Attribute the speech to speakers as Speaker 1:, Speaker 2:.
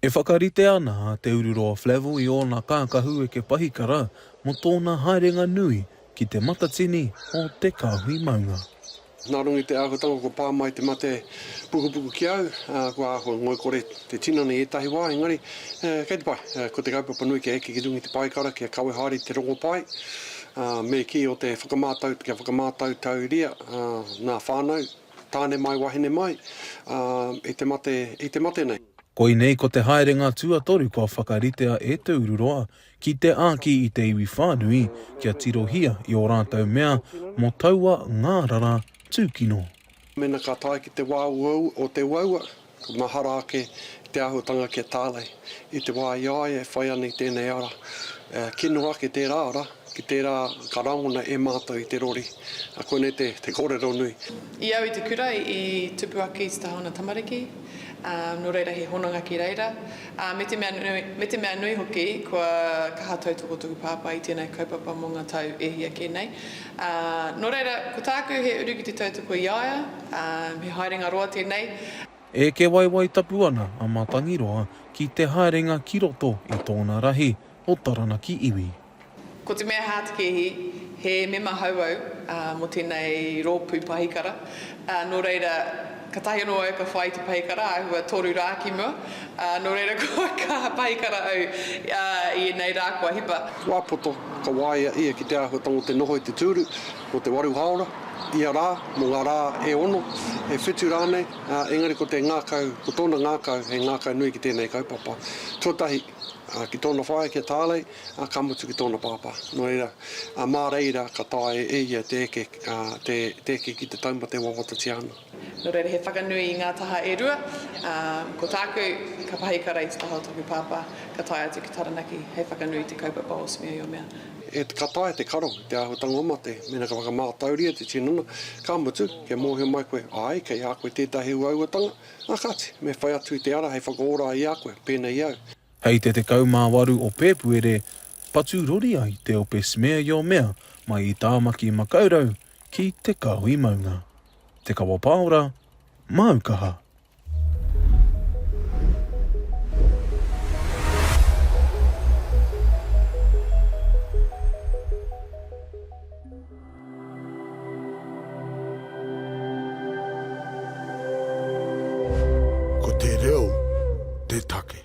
Speaker 1: E whakaritea ana a Te Ururoa Flavell i ōna kākahu eke pahikara mō tōna haerenga nui ki te matatini o te kāhui maunga. Nā runga i te
Speaker 2: āhuatanga kua pā mai te mate pukupuku ki a au, ā, kua āhua ngoikore te tinana i ētahi wā, engari, kei te pai, ko te kaupapa nui kia eke ki runga i te paekara, kia kawe haere i te rongopai, ā, me kī o te whakamātau, kia whakamātautauria ngā whānau. Tāne mai, wahine mai, ā, i te mate, i te mate nei. Koinei ko te
Speaker 1: haerenga tuatoru kua whakaritea e Te Ururoa ki te āki i te iwi whānui kia tirohia i ō rātou mea mō taua ngārara tūkino. Mēnā ka
Speaker 2: tae ki te wā uaua o te uaua, Ka mahara ake te āhuatanga ki a Tālei i te wā i a ia e whai ana i tēnei ara. Kino ake tērā ara ki tērā ka rangona e mātou i te rori. Koinei te kōrero nui. I au i te kura
Speaker 3: i tupu ake i te taha o ngā tamariki, nō reira he hononga ki reira. Me te mea nui hoki, kua kaha tautoko tōku pāpā i tēnei kaupapa mō ngā tau e hia kē nei. Ā, nō reira, ko tāku he uru ki te tautoko i a ia, ā, he haerenga roa tēnei. Eke
Speaker 1: waiwai tapu ana a Matangiroa ki te haerenga ki roto i tōna rahi o Taranaki iwi. Ko te mea
Speaker 3: hātekēhi, he mema hou au, ā, mō tēnei rōpū pahikara, Nō reira, katahi anō au ka whai i te pahikara āhua toru rā ki mua, ā, nō reira kua kaha pahikara au i ēnei rā kua hipa. Wā poto, ka
Speaker 2: waia ia ki te āhuatanga o te noho i te tūru, mō te waru hāora, ia rā, mō ngā rā e ono, e whitu rānei, ā, engari ko te ngākau, ko tōna ngākau, he ngākau nui ki tēnei kaupapa. Tuatahi, ki tōna whaea, ki a Tālei, ā, ka mutu ki tōna pāpā. Nō reira, ā, mā reira ka taea e ia te eke, ā, te, te eke ki te taumata e wawatatia ana. Nō reira, he whakanui
Speaker 3: i ngā taha e rua, ā, ko tāku, ka pahi ka rei te taha o tōku pāpā, ka tae atu ki Taranaki hei whakanui i te kaupapa o Smia i o Mea. E, ka taea
Speaker 2: te karo i te āhuatanga o mate, mēnā ka whakamātauria te tinana, ka mutu, kia mōhio mai koe, āe, kei a koe tētahi uauatanga, ā, kāti, me whai atu i te ara hei whakaora i a koe, pēnei i au. Hei te 18
Speaker 1: o Pēpuere, patu rori ai te ope Smeaeomea mai i Tāmaki Makaurau ki Te Kahui Maunga. Te Kawa Pāora, māu kaha! Ko te reo te take.